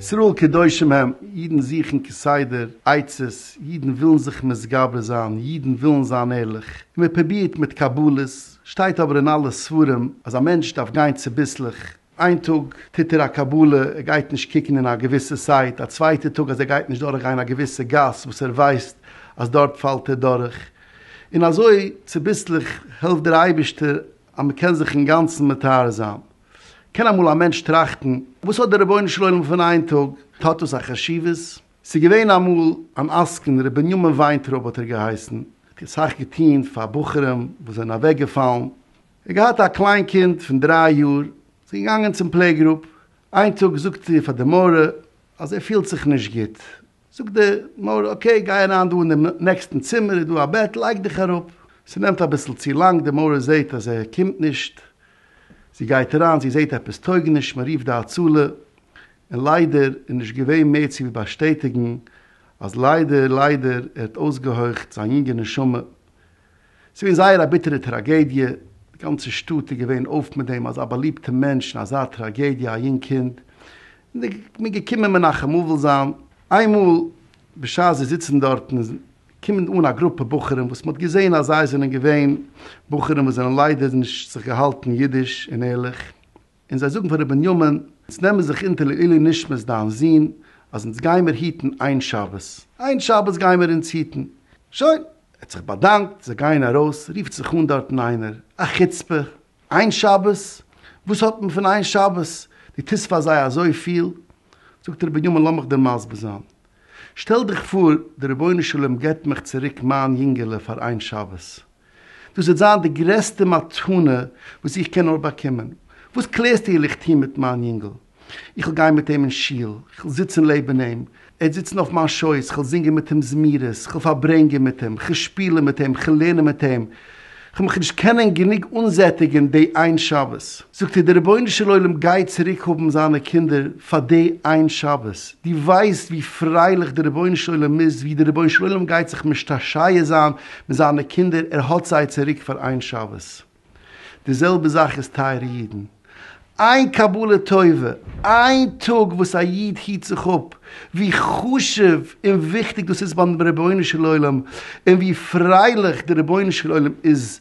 ישראל קדושים הם, אידן זוכן כסדר עצות, אידן ווילן זיך מתגבר זיין, אידן ווילן זיין ערליך, און מען פרובירט מיט קבלות, שטייט אבער אין אלע ספרים אז א מענטש דארף גיין צוביסלעך, איין טאג טוט ער א קבלה, ער גייט נישט קוקן אין א געוויסע סייט, א צווייטע טאג אז ער גייט נישט דורך גיין א געוויסע גאס וואס ער ווייסט אז דארט פאלט ער דורך, און אזוי צוביסלעך העלפט דער אייבערשטער אז מען קען זיך אינגאנצן מטהר זיין. קען אמאל א מענטש טראכטן, וואס האט דער רבונו של עולם פון איין טאג, האט דאס א חשיבות? ס'איז געווען אמאל אן עסקן, ר' בנימין וויינטרויב האט ער געהייסן, ער האט אסאך געטון פאר בחורים וואס זענען אוועקגעפאלן, ער האט געהאט א קליין קינד פון דריי יאר, זי איז געגאנגען צום פלעיגרופ, איין טאג זאגט זי פאר די מוהרא אז ער פילט זיך נישט גוט, זאגט די מוהרא אקעי גיי אריין דא אין די נעקסטן צימער איז דא א בעט לייג דיך אראפ, ס'נעמט אביסל צו לאנג די מוהרא זעהט אז ער קומט נישט, זי גייט אריין זי זעהט עפעס טויג נישט מען רופט די הצלה, און ליידער איז נישט געווען מער צו ווי באשטעטיגן אז ליידער ליידער ער האט אויסגעהויכט זיין יונגע נשמה. ס'איז געווען זייער א ביטערע טראגעדיע, די גאנצע שטאט איז געווען אויף מיט דעם, אזא באליבטע מענטש און אזא טראגעדיע, א יונג קינד, און די מ'איז געקומען מנחם אבל זיין. איינמאל בשעת זיי זיצן דארטן קומען אן א גרופע בחורים וואס מ'האט געזען אז זיי זענען געווען בחורים וואס זענען ליידער נישט זיך געהאלטן אידיש און ערליך, און זיי זאגן פאר ר' בנימין, אונז נעמען זיך אונטער לעילוי נשמת דיין זון, אז אונז גיימיר היטן איין שבת, איין שבת גיימיר אונז היטן. שוין, ער האט זיך באדאנקט, זיי גייען ארויס, רופט זיך אן דארטן איינער, א חוצפה, איין שבת? וואס האט מען פון איין שבת, דו טוסט פאר זיי אזויפיל? זאגט ר' בנימין, לאמיך דיר מסביר זיין, שטעל דיך פאר, דער רבונו של עולם גיבט מיך צוריק מיין יונגעלע פאר איין שבת, דאס וועט זיין די גרעסטע מתנה וואס איך קען נאר באקומען. וואס קלערסטו איך וויל טון מיט מיין יונגל? איך וויל גיין מיט אים אין שול, איך וויל זיצן לעבן אים, ער וועט זיצן אויף מיין שויס, איך וויל זינגען מיט אים זמירות, איך וויל פארברענגען מיט אים, איך וויל שפילן מיט אים, איך וויל לערנען מיט אים. איך וועל מיך נישט קענען גענוג אנזעטיגן די איין שבת. זאגט ער די רבונו של עולם גייט צוריק האבן זיינע קינדער פאר די איין שבת, דו ווייסט ווי פרייליך די רבונו של עולם איז ווי די רבונו של עולם גייט זיך משתשיה זיין מיט זיינע קינדער ער האט זיי צוריק פאר איין שבת, די זעלבע זאך איז טייערע אידן איין קבלה טובה, איין טאג וואס א איד היט זיך אפ, ווי חשוב און וויכטיג דאס איז ביים רבונו של עולם און ווי פרייליך די רבונו של עולם איז